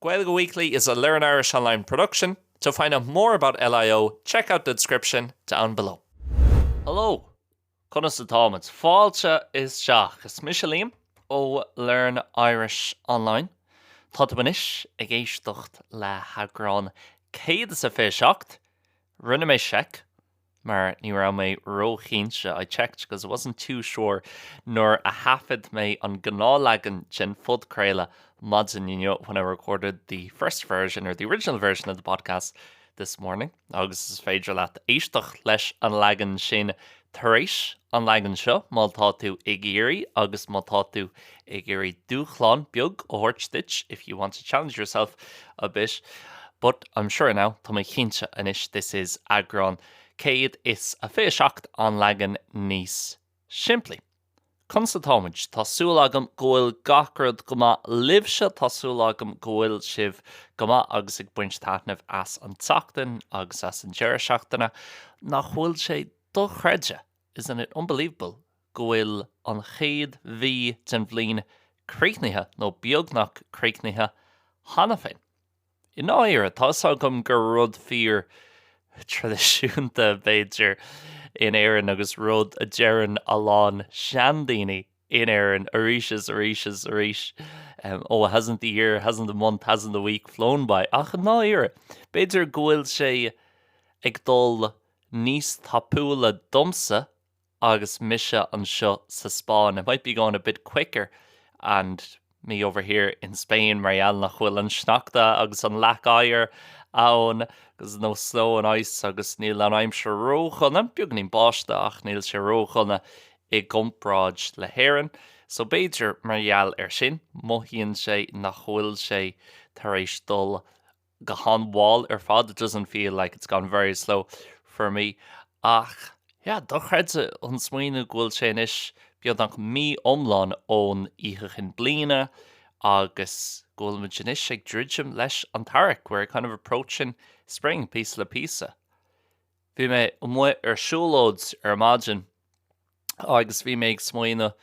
Gaeilge Weekly is a Learn Irish Online production, to find out more about LIO check out the description down below. Hello! Conas atáimid? Fáilte isteach! Is mise Liam ó Learn Irish Online. Tá tú anois ag éisteacht le heagrán céad is a fiche seacht. Rinne mé seic mar ní raibh mé ró-chinnte, I checked because I wasn't too sure, nuair a thaifead mé an gnáthleagan den phodchraoladh maidin inniu when I recorded the first version or the original version of the podcast this morning agus is féidir leat éisteacht leis an leagan sin tar éis an leagan seo má tá tú ag iarraidh agus má tá tú ag iarraidh dúshlán beag a thabhairt duit if you want to challenge yourself a bit but I'm sure now tá mé cinnte anois this is eagrán céad is a fiche seacht an leagan níos simplí. Conas atáimid, tá súil agam go bhfuil gach rud go maith libhse, tá súil agam go bhfuil sibh go maith agus ag baint taitneamh as an tseachtain agus as an deireadh seachtaine. Nach bhfuil sé dochreidte? Isn't it unbelievable go bhfuil an chéad mhí den bhliain críochnaithe, nó beagnach críochnaithe, cheana féin? I ndáiríre, tá 'fhios agam gur rud fíor traidisiúnta, b'fhéidir, in Éirinn, agus rud a deireann a lán seandaoine in Éirinn arís is arís is arís, Oh, hasn't the year, hasn't the month, hasn't the week flown by? Ach i ndáiríre, b'fhéidir go bhfuil sé ag dul níos tapúla domsa agus mise anseo sa Spáinn it might be going a bit quicker and me over here in Spain mar gheall nach bhfuil an sneachta agus an leac oighir ann there's no snow and ice agus níl an aimsir ródhona, beagáinín báistí ach níl sé ródhona i gcomparáid le hÉirinn so b'fhéidir mar gheall ar sin mothaíonn sé nach bhfuil sé tar éis dul go han-mhall ar fad, it doesn't feel like it's gone very slow for me. Ach, yeah, dochreidte an smaoineamh go bhfuil sé anois beagnach mí iomlán ón Oíche Chinn Bliana agus go bhfuil muid anois ag druidim leis an t-earrach, we're kind of approaching spring, píosa le píosa. Bhí mé amuigh ar siúlóid ar maidin agus bhí mé ag smaoineamh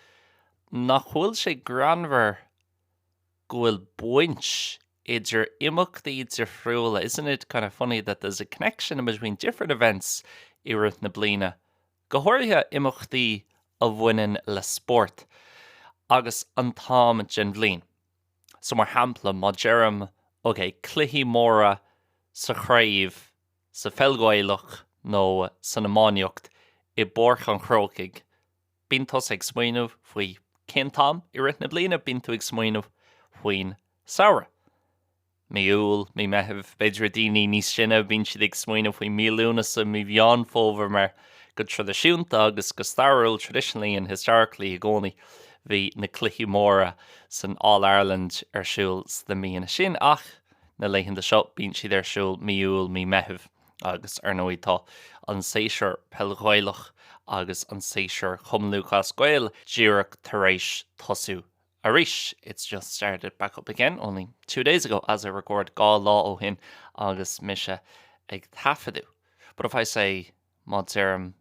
nach bhfuil sé greannmhar go bhfuil baint idir imeachtaí difriúla, isn't it kind of funny that there's a connection between different events i rith na bliana, go háirithe imeachtaí a bhaineann le spórt, agus an t-am den bhliain. So, mar shampla, má deirim, OK, cluichí móra sa chraobh sa pheil Ghaelach nó san iománaíocht i bPáirc an Chrócaigh, Bíonn tusa ag smaoineamh faoi cén t-am i rith na bliana bíonn tú ag smaoineamh faoin samhradh. Mí Iúil, Mí Meithimh, b'fhéidir i daoine níos sine bíonn siad ag smaoineamh faoi Mí Lúnasa, Mí Mheán Fómhair mar go traidisiúnta agus go stairiúil, traditionally and historically, i gcónaí bhí na cluichí móra san All Ireland ar siúl sna míonna sin ach na laethanta seo bíonn siad ar siúl Mí Iúil, Mí Meithimh. Agus, ar ndóigh, tá an seisiúr Peil Ghaelach agus an seisiúr Chumann Lúthchleas Gael díreach tar éis tosú arís, it's just started back up again only two days ago as I record, dhá lá ó shin agus mise ag taifeadadh. But if I say, má deirim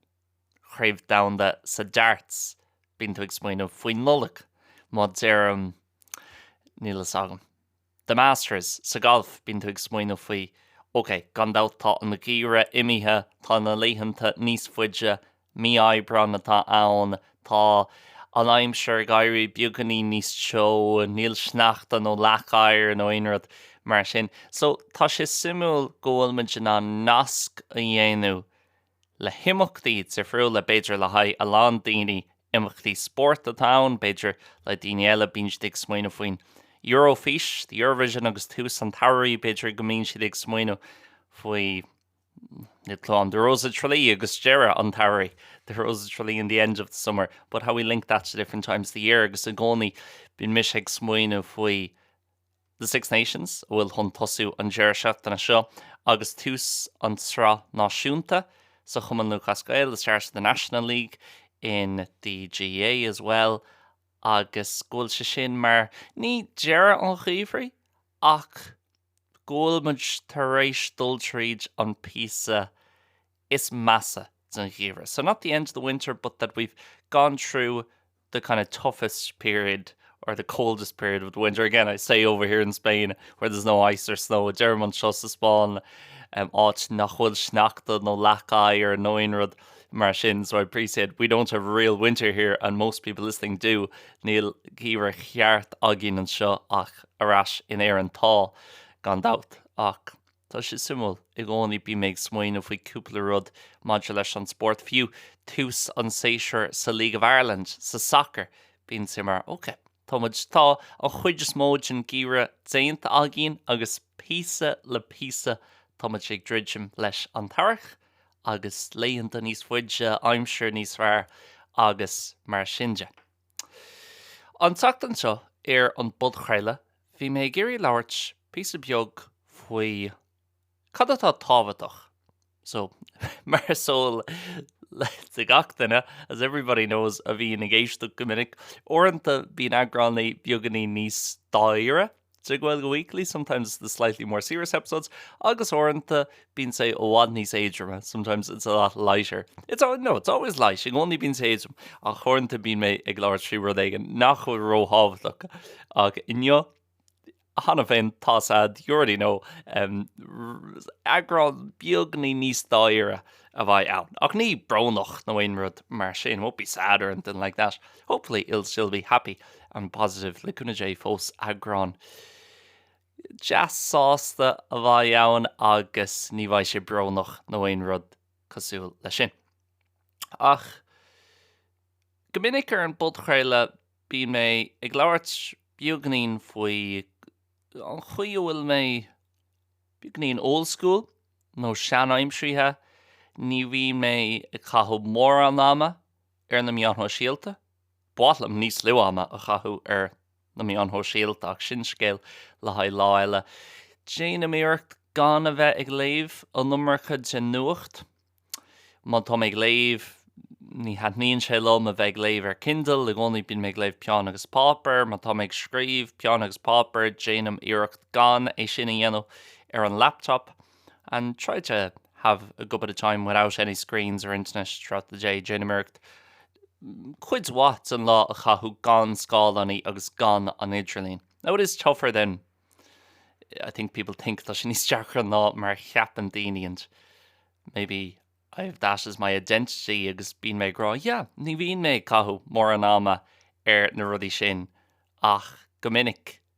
Craobh Domhanda sa Darts, bíonn tú ag smaoineamh faoin Nollaig. Má deirim. níl fhios agam. The Masters, sa ghalf, bíonn tú ag smaoineamh faoi, OK, gan dabht tá an gheimhreadh imithe, tá na laethanta níos faide, mí Aibreán atá ann, tá an aimsir ag éirí beagáinín níos teo, níl sneachta nó leac oighir nó aon rud mar sin. So, tá sé suimiúil go bhfuil muid in ann nasc a dhéanamh le himeachtaí difriúla, b'fhéidir le haghaidh a lán daoine imeachtaí spóirt atá ann, b'fhéidir le daoine eile bíonn siad ag smaoineamh faoin Eurofís, the Eurovision agus tús an tsamhraidh, b'fhéidir go mbíonn siad ag smaoineamh faoi níl clue ann, the Rose of Tralee agus deireadh an tsamhraidh, the Rose of Tralee and the end of the summer, but how we link that to different times of the year agus i gcónaí bíonn mise ag smaoineamh faoi The Six Nations, a bhfuil chun tosú an deireadh seachtaine seo agus tús an tsraith náisiúnta sa Chumann Lúthchleas Gael, the start of the National League in the GAA as well agus go bhfuil sé sin mar, ní deireadh an Gheimhridh, ach go bhfuil muid tar éis dul tríd an píosa is measa den Gheimhreadh. So not the end of the winter but that we've gone through the kind of toughest period or the coldest period of the winter, again I say over here in Spain where there's no ice or snow, deirim anseo sa Spáinn áit nach bhfuil sneachta nó leac oighir nó aon rud mar sin, so I appreciate we don't have real winter here and most people listening do, níl geimhreadh cheart againn anseo ach ar ais in Éirinn tá, gan dabht, ach. Tá sé suimiúil. I gcónaí bím ag smaoineamh faoi cúpla rud maidir leis an spórt. Fiú tús an tséasúir sa League of Ireland, sa sacar, bíonn sé mar, OK, tá muid, tá an chuid is mó den gheimhreadh déanta againn agus píosa le píosa tá muid ag druidim leis an t-earrach agus laethanta níos faide, aimsir níos fearr agus mar sin de. An tseachtain seo ar an bpodchraoladh bhí mé ag iarraidh labhairt píosa beag faoi cad atá tábhachtach so mar is eol do gach duine as everybody knows a bhíonn ag éisteacht go minic, uaireanta bíonn eagránaí beagáinín níos dáiríre. de Gaeilge Weekly, Sometimes it's the slightly more serious episodes agus uaireanta bíonn sé i bhfad níos éadroime, Sometimes it's a lot lighter. It's al- no, it's always light, i gcónaí bíonn sé éadrom ach uaireanta bíonn mé ag labhairt faoi rud éigin nach bhfuil ró-thábhachtach ach inniu cheana féin tá a fhios agat, you already know, em, r- eagrán beagáinín níos dáiríre a bheidh ann. Ach ní brónach nó aon rud mar sin, won't be sad or anything like that. Hopefully it'll still be happy and positive le cúnamh Dé fós eagrán deas sásta a bheidh ann agus ní bheidh sé brónach nó aon rud cosúil le sin. Ach go minic ar an bpodchraoladh bíonn mé ag labhairt beagainín faoi an chaoi a bhfuil mé beagainín old school nó seanaimseartha. Ní bhíonn mé ag caitheamh mórán ama ar na meáin shóisialta. Ba mhaith liom níos lú ama a chaitheamh ar na meáin shóisialta ach sin scéal le haghaidh lá eile. Déanaim iarracht gan a bheith ag léamh an iomarca den nuacht. Má tá mé ag léamh, ní thaitníonn sé liom a bheith ag léamh ar Kindle, i gcónaí bíonn mé ag léamh peann agus páipéar. Má tá mé ag scríobh, peann agus páipéar, déanaim iarracht gan é sin a dhéanamh ar an laptop. and try to have a good bit of time without any screens or internet throughout the day, déanaim iarracht cuid mhaith den lá a chaitheamh gan scáileánaí agus gan an idirlíon. Now it is tougher than I think people think, tá sé níos deacra ná mar a cheapann daoine and maybe I have that as my identity agus bíonn mé ag rá, yeah, ní bhíonn mé ag caitheamh mórán ama ar na rudaí sin ach go minic.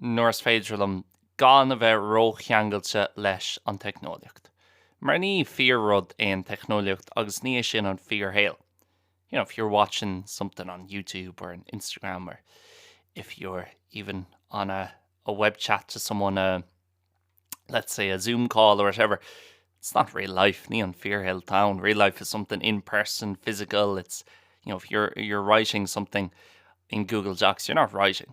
nuair is féidir liom gan a bheith ró-cheangailte leis an teicneolaíocht. Mar ní fíor-rud é an teicneolaíocht agus ní hé sin an fíor-shaol. You know, if you're watching something on YouTube or on Instagram or if you're even on a, a web chat to someone, a, let's say a Zoom call or whatever, it's not real life, ní an fíor-shaol town. Real life is something in person, physical, it's, you know, if you're, you're writing something in Google Docs, you're not writing.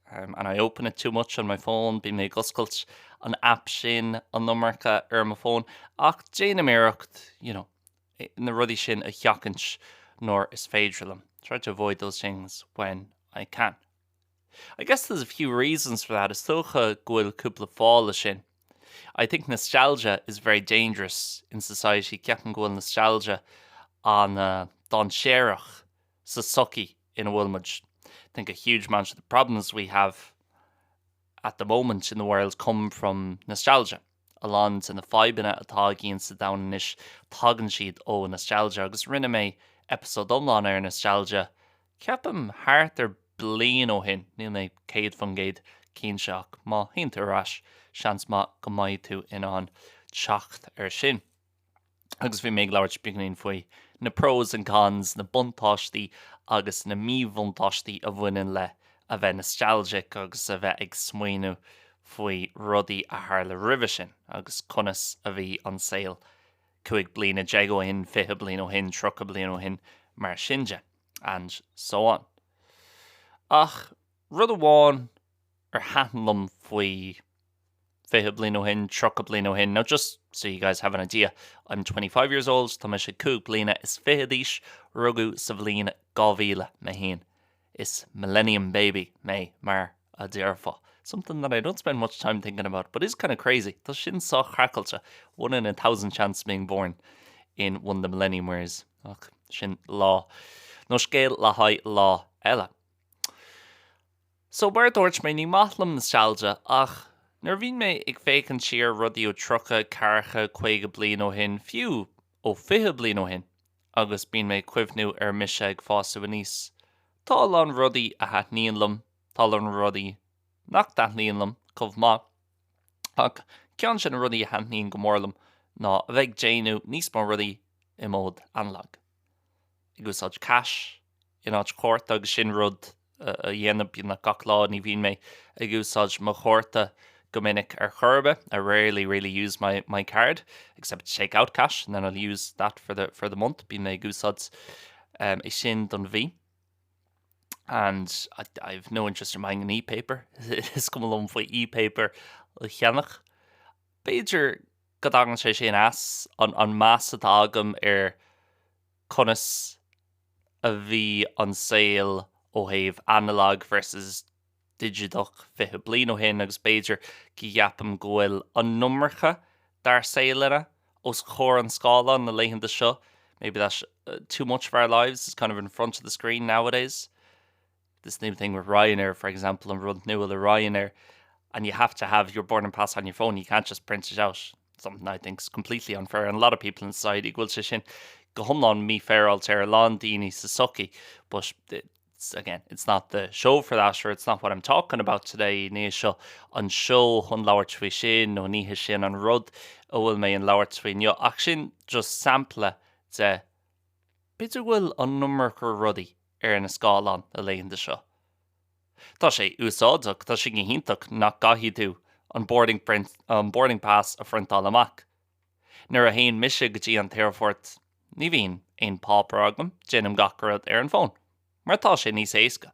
and I open it too much on my phone, bíonn mé ag oscailt an aip sin, an iomarca, ar my phone, ach déanaim iarracht, you know, na rudaí sin a sheachaint nuair is féidir liom, try to avoid those things when I can. I guess there's a few reasons for that, is dócha go bhfuil cúpla fáth leis sin. I think nostalgia is very dangerous in society, ceapaim go bhfuil nostalgia an-dainséarach sa tsochaí. ina bhfuil muid, think a huge amount of the problems we have at the moment in the world come from nostalgia. A lán de na fadhbanna atá againn sa domhan anois, tagann siad ó nostalgia agus rinne mé episode iomlán ar nostalgia, ceapaim thart ar bliain ó shin, níl mé céad faoin gcéad cinnte ach má théann tú ar ais, seans maith go mbeidh tú in ann teacht ar sin. agus bhí mé ag labhairt beagainín faoi na pros and cons, na buntáistí agus na míbhuntáistí a bhaineann le a bheith nostalgic agus a bheith ag smaoineamh faoi rudaí a tharla roimhe sin agus conas a bhí an saol cúig bliana déag ó shin, fiche bliain ó shin, tríocha bliain ó shin, mar sin de and so on. Ach rud amháin ar thaitn liom faoi 20 bliain ó shin, 30 bliain ó shin, now just so you guys have an idea, I'm twenty five years old, tá mise cúig bliana is fiche d'aois, rugadh sa bhliain 2000 mé féin, is millennium baby mé mar a déarfá. Something that I don't spend much time thinking about, but is kind of crazy, tá sin sách craiceáilte, one in a thousand chance being born in one of the millennium years, ach sin lá, nó scéal le haghaidh lá eile. So mar a dúirt mé ní maith liom nostalgia ach nuair a bhíonn mé ag féachaint siar rudaí ó tríocha, ceathracha, caoga bliain ó shin, fiú ó fiche bliain ó shin agus bíonn mé ag cuimhniú ar mise ag fásadh aníos, tá a lán rudaí a thaitníonn liom, tá a lán rudaí nach dtaitníonn liom chomh maith ach ceann de na rudaí a thaitníonn go mór liom ná a bheith ag déanamh níos mó rudaí i mód analogue. ag úsáid cash in áit cárta agus sin rud a dhéanaim beagnach gach lá, ní bhíonn mé ag úsáid mo chárta go minic ar chor ar bith, I rarely really use my my card, except to take out cash and then I'll use that for the for the month, bíonn mé ag úsáid um, é sin don mhí. And I, I've no interest in buying an e-paper, is cuma liom faoi e-paper a cheannach. B'fhéidir go dtagann sé sin as an meas atá agam ar conas a bhí an saol ó thaobh analog versus digiteach 20 bliain ó shin agus b'fhéidir go gceapaim go bhfuil an iomarca dár saol anois os comhair an scáileáin na laethanta seo, maybe that too much of our lives is kind of in front of the screen nowadays. this new thing with Ryanair for example an rud nua le Ryanair and you have to have your boarding pass on your phone you can't just print it out something I think is completely unfair on a lot of people in society go bhfuil sé sin go hiomlán mífhéaráilte ar a lán daoine sa tsochaí but it's, again it's not the show for that or it's not what I'm talking about today ní seo an seó chun labhairt faoi sin nó ní hé sin an rud a bhfuil mé ag labhairt faoi inniu ach sin just sampla de b'fhéidir go bhfuil an iomarca rudaí ar na scáileáin na laethanta seo. Tá sé úsáideach, tá sé go hiontach nach gcaithfidh tú an boarding print, an boarding pass a phriontáil amach. Nuair a théann mise go dtí an t-aerfort, ní bhíonn aon páipéar agam, déanaim gach rud ar an bhfón, mar tá sé níos éasca.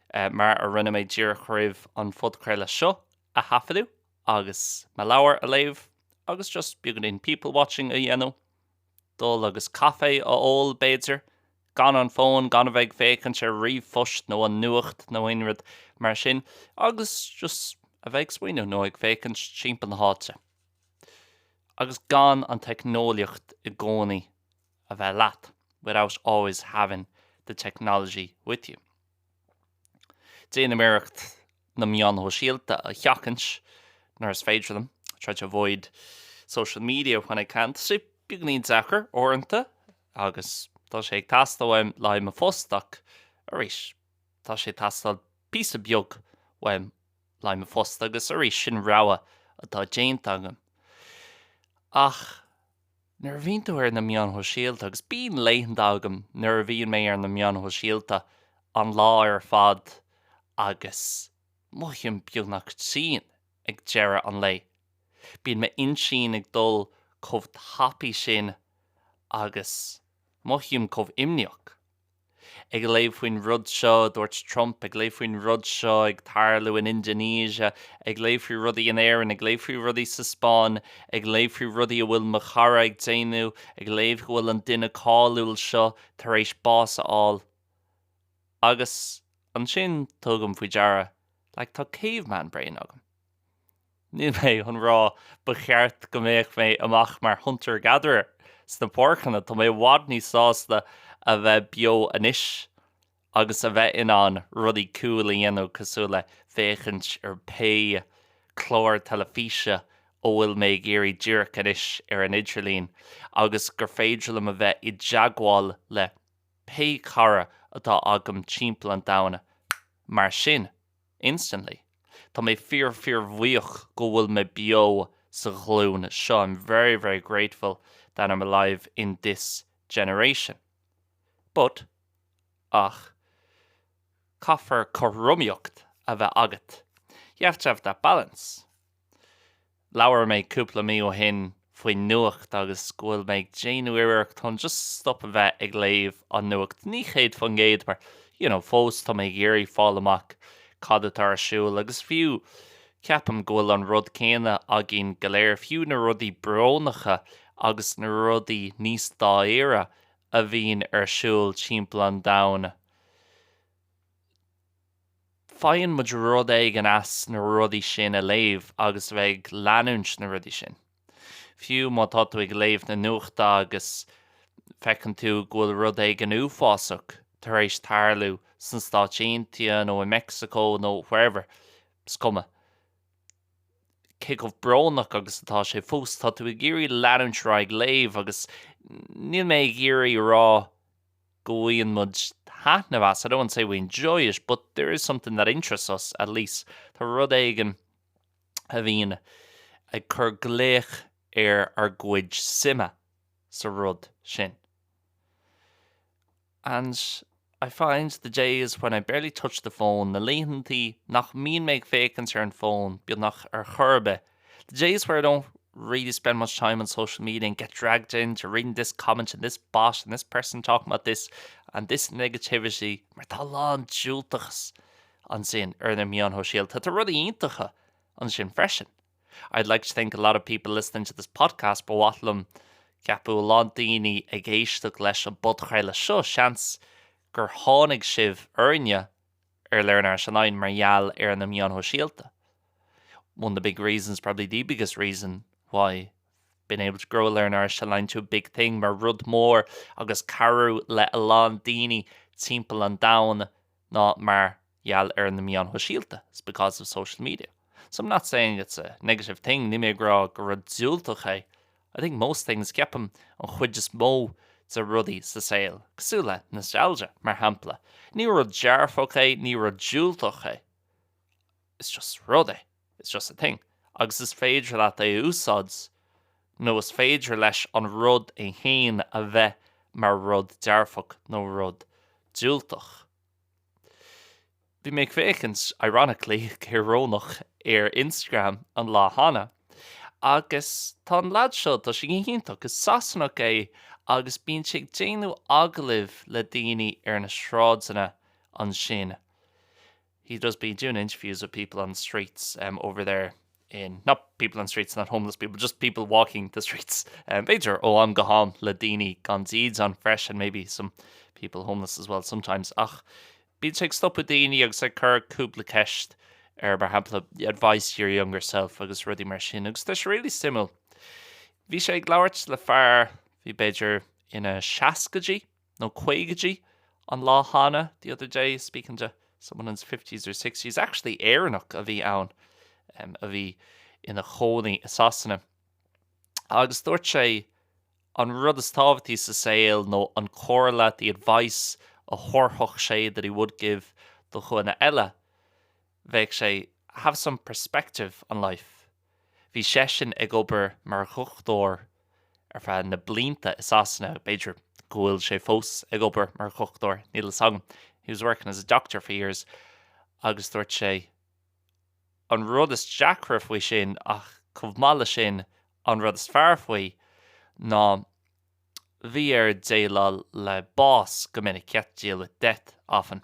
mar a rinne mé díreach roimh an phodchraoladh seo a thaifeadadh agus mo leabhar a léamh agus just beagáinín people watching a dhéanamh, dul agus caife a ól b'fhéidir, gan an fón, gan a bheith ag féachaint ar ríomhphost nó an nuacht nó aon rud mar sin agus just a bheith ag smaoineamh nó ag féachaint timpeall na háite agus gan an teicneolaíocht i gcónaí a bheith leat, without always having the technology with you. Déanaim iarracht na meáin shóisialta a sheachaint nuair is féidir liom, I try to avoid social media when I can. Tá sé beagáinín deacair uaireanta agus tá sé ag teastáil uaim le haghaidh mo phost ach arís tá sé ag teastáil píosa beag uaim le haghaidh mo phost agus arís sin rogha atá déanta agam. Ach. nuair a bhíonn tú ar na meáin shóisialta, agus bíonn laethanta agam nuair a bhíonn mé ar na meáin shóisialta an lá ar fad agus mothaím beagnach tinn ag deireadh an lae. Bíonn m'intinn ag dul chomh tapaidh sin agus mothaím chomh imníoch. Ag léamh faoin rud seo a dúirt Trump, ag léamh faoin rud seo ag tarlú in Indonesia, ag léamh faoi rudaí in Éirinn, ag léamh faoi rudaí sa Spáinn, ag léamh faoi rudaí a bhfuil mo chara ag déanamh, ag léamh go bhfuil an duine cáiliúil seo tar éis bás a fháil. Agus ansin tugaim faoi deara, like, tá caveman brain agam. Níl mé chun rá ba cheart go mbeadh mé amach mar hunter gatherer sna páirceanna, tá mé i bhfad níos sásta a bheith beo anois agus a bheith in ann rudaí cool a dhéanamh cosúil le féachaint ar pé clár teilifíse a bhfuil mé ag iarraidh díreach anois ar an idirlíon agus gur féidir liom a bheith i dteagmháil le pé cara atá agam timpeall an domhain. Mar sin. instantly. Tá mé fíor fíor bhuíoch go bhfuil mé beo sa ghlúin seo, I'm very very grateful that I'm alive in this generation. But, ach, caithfear cothromaíocht a bheith agat, you have to have that balance. Labhair mé cúpla mí ó shin faoin nuacht agus go bhfuil mé ag déanamh iarracht chun just stop a bheith ag léamh an nuacht, ní céad faoin gcéad mar you know fós tá mé ag iarraidh fáil amach cad atá ar siúl agus fiú ceapaim go bhfuil an rud céanna againn go léir, fiú na rudaí brónacha agus na rudaí níos dáiríre a bhíonn ar siúl timpeall an domhain. Faigheann muid rud éigin as na rudaí sin a léamh agus a bheith ag leanúint na rudaí sin. Fiú má tá tú ag léamh na nuachta agus feiceann tú go bhfuil rud éigin uafásach tar éis tarlú sna Stáit Aontaithe nó i Mexico nó wherever, is cuma. Cé chomh brónach agus atá sé fós, tá tú ag iarraidh leanúint ar aghaidh ag léamh agus níl mé ag iarraidh a rá go mbaineann muid taitneamh as, I don't want to say we enjoy it, but there is something that interests us, at least. Tá rud éigin a bhíonn ag cur glaoch ar ár gcuid suime sa rud sin. And I find the days when I barely touch the phone, na laethanta nach mbíonn mé ag féachaint ar an phone, beagnach ar chor ar bith, The days where I don't really spend much time on social media and get dragged into reading this comment and this bot and this person talking about this and this negativity mar tá a lán diúltachas ansin ar na meáin shóisialta tá rudaí iontacha ansin freisin. I'd like to think a lot of people listening to this podcast ba mhaith liom ceapadh a lán daoine ag éisteacht leis an bpodchraoladh seo seans gur tháinig sibh orainne ar Learn Irish Online mar gheall ar na meáin shóisialta one of the big reasons, probably the biggest reason, why I've been able to grow Learn Irish Online to a big thing, mar rud mór agus cabhrú le a lán daoine timpeall an domhain ná mar gheall ar na meáin shóisialta is because of social media. So I'm not saying it's a negative thing, níl mé ag rá gur rud diúltach é I think most things Ceapaim an chuid is mó de rudaí sa saol, cosúil le nostalgia, mar shampla. Ní rud dearfach é, ní rud diúltach é. Is just rud é. It's just a thing. Agus is féidir leat é a úsáid nó is féidir leis an rud é féin a bheith mar rud dearfach nó rud diúltach. Bhí mé ag féachaint, ironically, go hiorónach, ar Instagram an lá cheana agus tá an lead seo, tá sé go hiontach, is Sasanach é agus bíonn sé ag déanamh agallaimh le daoine ar na sráideanna ansin, he does be doing interviews with people on the streets over there. in not people on streets, not homeless people, just people walking the streets, b'fhéidir ó am go ham le daoine gan dídean freisin, maybe some people homeless as well sometimes, ach bíonn sé ag stopadh daoine agus ag cur cúpla ceist air, mar shampla, advice your younger self agus rudaí mar sin, agus tá sé really suimiúil. Bhí sé ag labhairt le fear bhí b'fhéidir ina seascaidí. nó caogaidí, an lá cheana, the other day, speaking to someone in his fifties or sixties, actually Éireannach a bhí ann em, a bhí ina chónaí i Sasana. Agus dúirt sé an rud is tábhachtaí sa saol nó an chomhairle, the advice, a thabharfadh sé, that he would give, do dhuine eile, bheadh sé, have some perspective on life. Bhí seisean ag obair mar dhochtúir ar feadh na blianta i Sasana, b'fhéidir go bhfuil sé fós ag obair mar dhochtúir, níl fhios agam, he was working as a doctor for years agus dúirt sé an rud is deacra faoi sin ach chomh maith le sin an rud is fearr faoi ná bhí air déileáil le bás go minic, he had to deal with death often.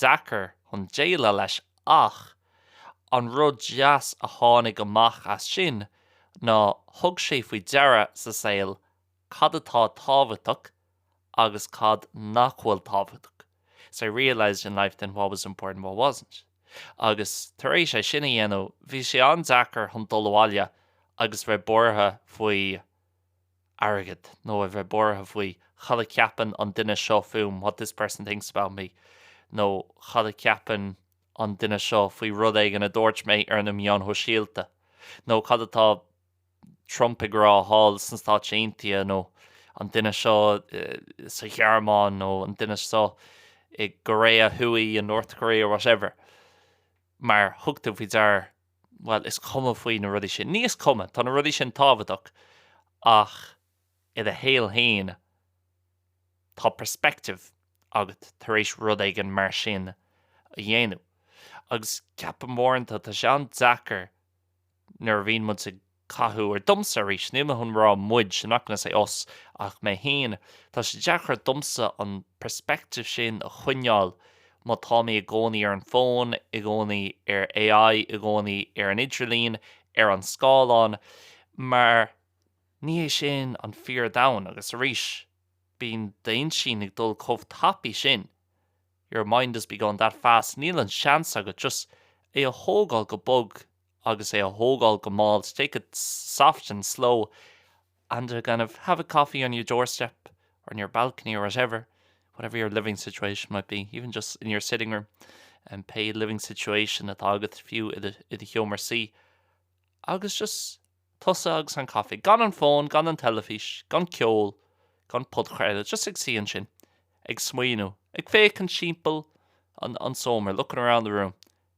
deacair chun déileáil leis ach an rud deas a tháinig amach as sin ná thug sé faoi deara sa saol cad atá tábhachtach agus cad nach bhfuil tábhachtach, so realised in life then what was important what wasn't agus tar éis dó é sin a dhéanamh bhí sé an-deacair chun dul abhaile agus bheith buartha faoi airgead, nó a bheith buartha faoi cad a cheapann an duine seo fúm, what this person thinks about me, nó cad a cheapann an duine seo faoi rud éigin a dúirt mé ar na meáin shóisialta, nó cad atá Trump ag rá thall sna Stáit Aontaithe, nó an duine seo sa Ghearmáin, nó an duine seo i gCoiréa Thuaidh, in North Korea, whatever. Mar thug tú faoi deara. bhuel, is cuma faoi na rudaí sin. Ní is cuma, tá na rudaí sin tábhachtach ach i do shaol féin tá perspective agat tar éis rud éigin mar sin a dhéanamh agus ceapaim uaireanta tá sé an-deacair nuair a bhíonn muid sa cathú or domsa arís. Níl mé chun rá 'muid', I'm not going to say us, ach mé féin. Tá sé deacair domsa an perspective sin a choinneáil má tá mé i gcónaí ar an bhfón, i gcónaí ar AI, i gcónaí ar an idirlíon, ar an scáileán, mar ní hé sin an fíor domhan. Agus arís, bíonn d'intinn ag dul chomh tapaidh sin, your mind is be going that fast, níl an seans agat just é a thógáil go bog agus é a thógáil go mall to take it soft and slow and to kind of have a coffee on your doorstep or on your balcony or whatever, whatever your living situation might be, even just in your sitting room, and pé living situation atá agat fiú i do sheomra suí, agus just tusa agus an caife, gan an fón, gan an teilifís, gan ceol, gan podchraoladh, just ag suí ansin, ag smaoineamh, ag féachaint timpeall an tseomra, looking around the room,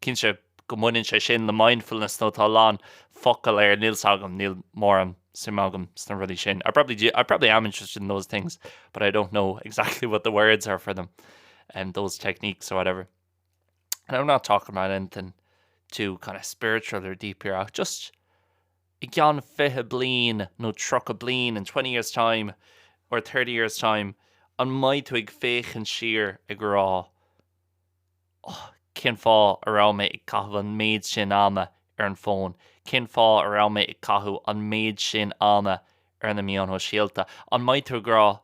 Cinnte go mbaineann sé sin le mindfulness nó tá a lán focal air, níl 's agam, níl mórán suim agam sna rudaí sin. I probably am interested in those things but I don't know exactly what the words are for them and those techniques or whatever. And I'm not talking about anything too kind of spiritual or deep here ach just i gceann fiche bliain nó tríocha bliain, in twenty years time or thirty years time, an mbeidh tú ag féachaint siar ag rá, Oh, cén fáth a raibh mé ag caitheamh an méid sin ama ar an bhfón? Cén fáth a raibh mé ag caitheamh an méid sin ama ar na meáin shóisialta? An mbeidh tú ag rá,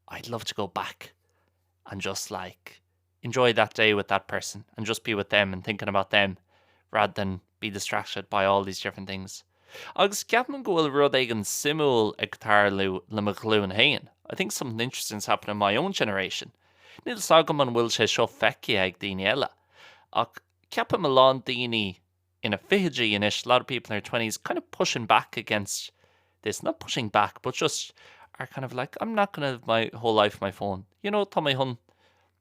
I'd love to go back and just like enjoy that day with that person and just be with them and thinking about them rather than be distracted by all these different things. Agus ceapaim go bhfuil rud éigin suimiúil ag tarlú le mo ghlúin féin, I think something interesting is happening in my own generation. Níl 's agam an bhfuil sé seo feicthe ag daoine eile, ach ceapaim go bhfuil a lán daoine ina fichidí anois, a lot of people in their twenties kind of pushing back against this, not pushing back but just are kind of like, I'm not gonna live my whole life on my phone, you know, tá mé chun.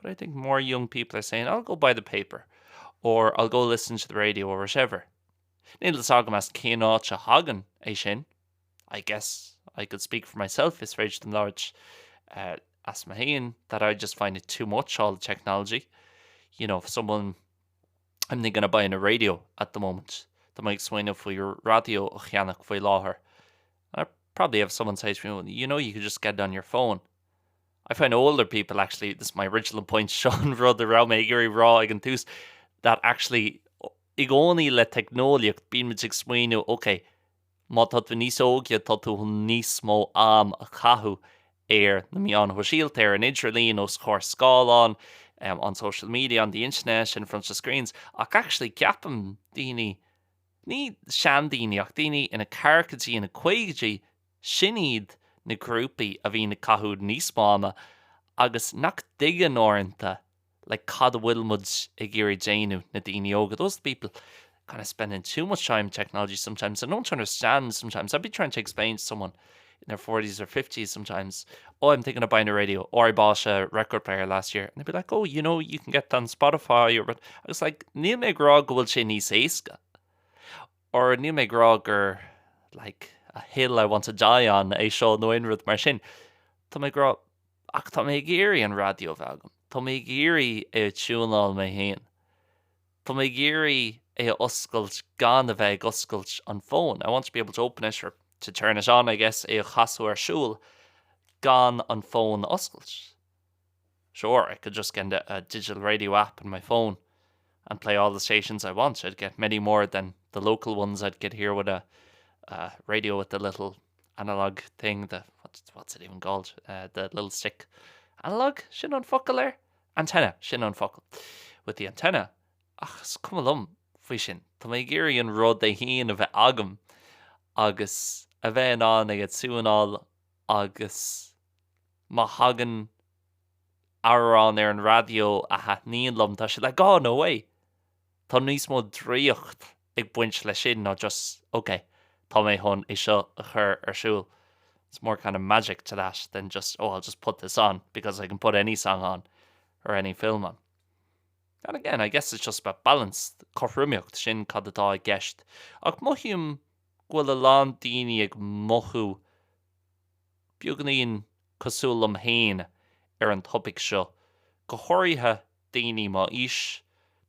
But I think more young people are saying, I'll go buy the paper, or I'll go listen to the radio or whatever. Níl fhios agam as cén áit a thagann é sin. I guess I could speak for myself, is féidir dom labhairt uh, as mo fhéin that I just find it too much, all the technology. You know, if someone, I'm thinking of buying a radio at the moment, Tá mé ag smaoineamh faoi radio a cheannach faoi láthair. I probably have someone say to me, well, you know, you could just get it on your phone. I find older people actually, this is my original point, seo an rud a raibh mé ag iarraidh rá ag an tús, that actually i gcónaí le teicneolaíocht bíonn muid ag smaoineamh ok má tá tú níos óige tá tú chun níos mó am a chaitheamh ar na meáin shóisialta, ar an idirlíon, os comhair scáileán, on social media, on the internet, in front of screens ach actually ceapaim daoine ní seandaoine ach daoine ina ceathrachaidí ina 50idí Sin iad na grúpaí a bhíonn ag caitheamh níos mó ama agus nach dtuigeann uaireanta like cad a bhfuil muid ag iarraidh déanamh, na daoine óga, those are the people kind of spending too much time on technology sometimes and don't understand sometimes I'd be trying to explain to someone in their forties or fifties sometimes oh I'm thinking of buying a radio or I bought a record player last year and they'd be like oh you know you can get that on Spotify or I was like níl mé ag rá go bhfuil sé níos éasca or níl mé ag rá gur like a hill I want to die on é seo nó aon rud mar sin. Tá mé ag rá, ach tá mé ag iarraidh an raidió a bheith agam, tá mé ag iarraidh é a tiúnáil mé féin, tá mé ag iarraidh é a oscailt gan a bheith ag oscailt an fón, I want to be able to open it or to turn it on I guess, é a chasadh ar siúl gan an fón a oscailt. Sure, I could just get a a digital radio app in my phone and play all the stations I want, I'd get many more than the local ones I'd get here with a a radio with the little analog thing, the what what's it even called, eh, the little stick. Analog? Sin an focal air? Antenna, sin an focal. With the antenna. Ach is cuma liom faoi sin, tá mé ag iarraidh an rud é féin a bheith agam agus a bheith in ann é a tiúnáil agus. má thagann amhrán ar an raidió a thaitníonn liom, tá sé like, no way! Tá níos mó draíocht ag baint le sin ná just ok, tá mé chun é seo a chur ar siúl. It's more kind of magic to that than just oh I'll just put this on because I can put any song on or any film on. And again, I guess it's just about balance, cothromaíocht, sin cad atá i gceist. Ach mothaím go bhfuil a lán daoine ag mothú beagainín cosúil liom féin ar an topaic seo, go háirithe daoine m'aois,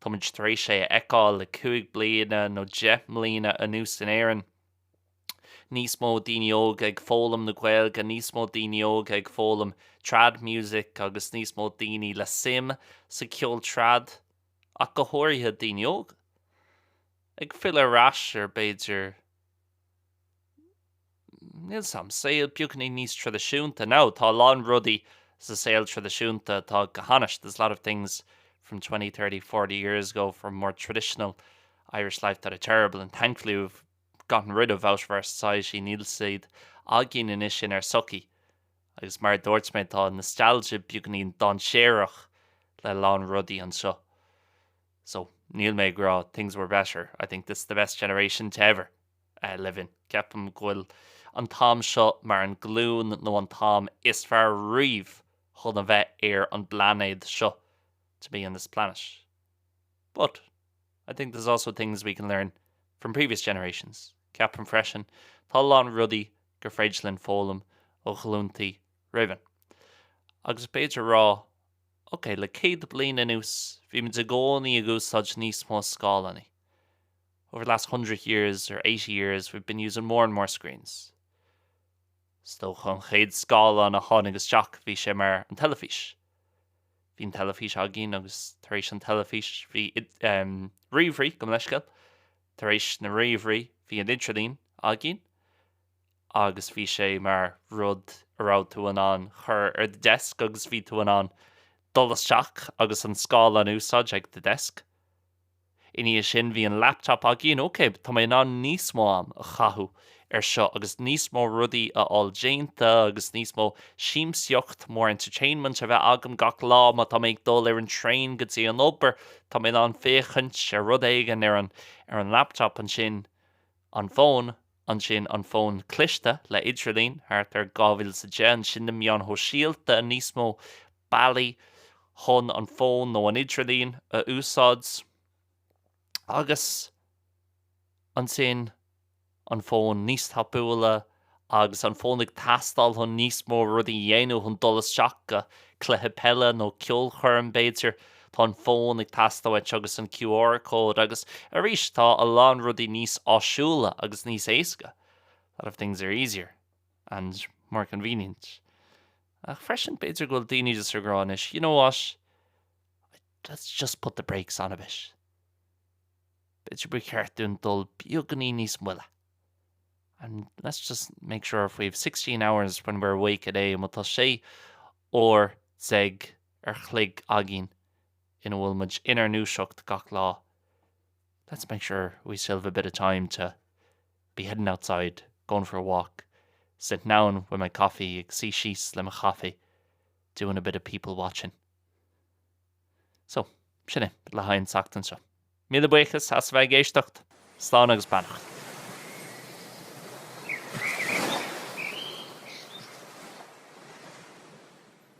táimid tar éis é a fheiceáil le cúig bliana nó deich mbliana anuas in Éirinn. Níos mó daoine óga ag foghlaim na Gaeilge, níos mó daoine óga ag foghlaim trad music agus níos mó daoine le suim sa ceol trad ach go háirithe daoine óga ag filleadh ar ais ar b'fhéidir Stíl saoil beagáinín níos traidisiúnta. Now, tá a lán rudaí sa saol traidisiúnta atá go hainnis, there's a lot of things from twenty, thirty, forty years ago from more traditional Irish life that are terrible and thankfully we've gotten rid of out of our society, níl siad againn anois inár sochaí. Agus mar a dúirt mé, tá nostalgia beagáinín dainséarach le a lán rudaí anseo. So, níl mé ag rá things were better, I think this is the best generation to ever live in. Ceapaim go bhfuil an t-am seo mar an glúin nó an t-am is fearr riamh chun a bheith ar an bplainéad seo, to be on this planet. But, I think there's also things we can learn from previous generations. Ceapaim freisin, tá a lán rudaí gur féidir linn foghlaim ó ghlúntaí roimhainn. Agus b'fhéidir rá Ok, le céad bliain anuas, bhí muid i gcónaí ag úsáid níos mó scáileáiní. Over the last hundred years or eighty years, we've been using more and more screens. Is dócha an chéad scáileán a tháinig isteach bhí sé mar an teilifís. Bhí an teilifís againn agus tar éis an teilifís bhí ríomhairí, gabh mo leithscéal. Tar éis na ríomhairí bhí an idirlíon againn. agus bhí sé mar rud a raibh tú in ann chur ar do desk agus bhí tú in ann dul isteach agus an scáileán a úsáid ag do desk. I ndiaidh sin bhí an laptop againn, ok tá mé in ann níos mó am a chaitheamh ar seo agus níos mó rudaí a fháil déanta agus níos mó siamsaíocht, more entertainment, a bheith agam gach lá má tá mé ag dul ar an traein go dtí an obair tá mé in ann féachaint ar rud éigin ar an, ar an laptop ansin an phone. ansin an fón cliste le idirlíon, thart ar 2010, ansin na meáin shóisialta, níos mó bealaí chun an fón nó an idirlíon a úsáid, agus ansin an fón níos tapúla agus an fón ag teastáil chun níos mó rudaí a dhéanamh, chun dul isteach go cluiche peile nó ceolchoirm b'fhéidir. Tá an fón ag teastáil uait agus an QR code agus arís tá a lán rudaí níos áisiúla agus níos éasca. A lot of things are easier and more convenient. Ach freisin b'fhéidir go bhfuil daoine just ag rá anois, you know what? Let's just put the brakes on a bit. B'fhéidir ba cheart dúinn dul beagáinín níos moille. And let's just make sure if we have 16 hours when we're awake a day, má tá sé huaire déag an chloig againn ina bhfuil muid inár ndúiseacht gach lá let's make sure we still have a bit of time to be heading outside, going for a walk, sitting down with my coffee, ag suí síos le mo coffee, doing a bit of people watching. So, sin é le haghaidh an tseachtain seo. Míle buíochas as bheith ag éisteacht. Slán agus beannacht.